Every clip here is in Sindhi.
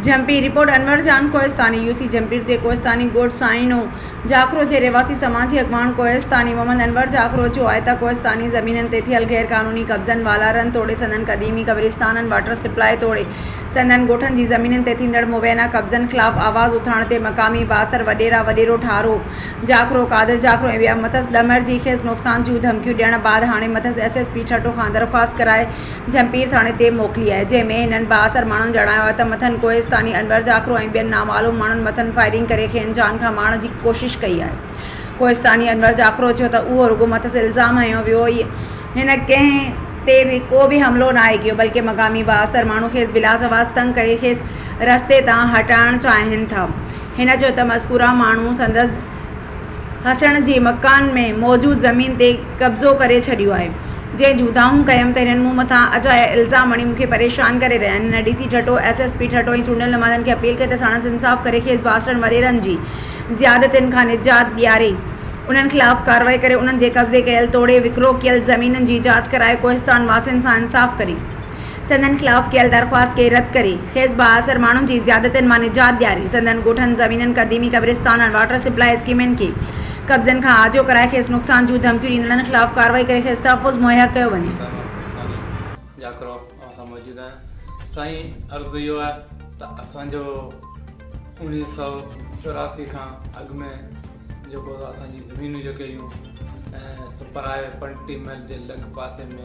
Jhimpir, report, Anwar Jan Kohistani, U C Jhimpir جي ڪوهستاني ڳوٺ سائينو جاکرو جي رهواسي سماجي اڳواڻ ڪوهستاني محمد انور جاکرو چيو آهي ته ڪوهستاني زمينن تي ٿيل غير قانوني قبضن والارن توڙي سندن قديمي قبرستانن واٽر سپلاء توڙي سندن ڳوٺن جي زمينن تي ٿيندڙ مبينا قبضن خلاف آواز اٿارڻ تي مقامي بااثر وڏيرا وڏيرو ٺارو جاکرو قادر جاکرو ۽ ٻيا مٿس ڏمر جي کيس نقصان جون ڌمڪيون ڏيڻ بعد هاڻي مٿس ايس ايس پي ٺٽو کان درخواست ڪرائي جهمپير ٿاڻي تي موڪلي آهي، جنهن ۾ هنن بااثر ماڻهن ڄاڻايو آهي ته مٿن ڪوهستاني انور جاکرو ۽ ٻين نامعلوم ماڻهن مٿن فائرنگ ڪري کين جان کان مارڻ جي ڪوشش ڪئي آهي. ڪوهستاني انور جاکرو چيو ته اهو رڳو مٿس الزام هنيو ويو هي، هن ڪنهن تي به ڪو به حملو ناهي ڪيو بلڪه مقامي بااثر ماڻهو کيس بلاجواز تنگ ڪري کيس رستي تان هٽائڻ چاهين ٿا، هن چيو ته مذڪوره ماڻهو سندس. حسڻ جي مڪان ۾ موجود زمين تي قبضو ڪري ڇڏيو آهي جنهن جون دانهون ڪيم ته هنن مون مٿان اجايا الزام هڻي مون کي پريشان ڪري رهيا آهن هن D C Thatta S S P Thatta ۽ چونڊيل نمائندن کي اپيل ڪئي ته ساڻس انصاف ڪري کيس باسرن وريرن جي زيادتين کان نجات ڏياري انهن خلاف ڪارروائي ڪري انهن جي قبضي ڪيل توڙي وڪرو ڪيل زمينن جي جاچ ڪرائي ڪوهستان واسين سان انصاف ڪري. سندن خلاف ڪيل درخواست کي رد ڪري، کيس بااثر ماڻهن جي زيادتين مان نجات ڏياري، سندن ڳوٺن، زمينن، قديمي قبرستانن، واٽر سپلاء اسڪيمن کي قبضن کان آجو ڪرائي، کيس نقصان جون ڌمڪيون ڏيندڙن خلاف ڪارروائي ڪري کيس تحفظ مهيا ڪيو وڃي. سائين ماکيساڻي جاکرو اوهان سان موجود آهيان سائين عرض اهو آهي ته اسان جو اوڻيهه سؤ چوراسي کان اڳ ۾ جيڪو اسان جي زمينون جيڪي هيون ۽ سپرائي پنٽي محل جي لڳ پاسي ۾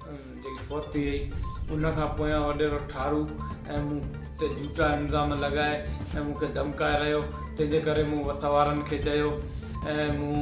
جيڪي فوت ٿي وئي ان کان پويان وڏيرو ٺارو ۽ مون تي جھوٽا الزام لڳائي ۽ مون کي ڌمڪائي رھيو تنھنجي ڪري مون وٿ وارن کي چيو ۽ مون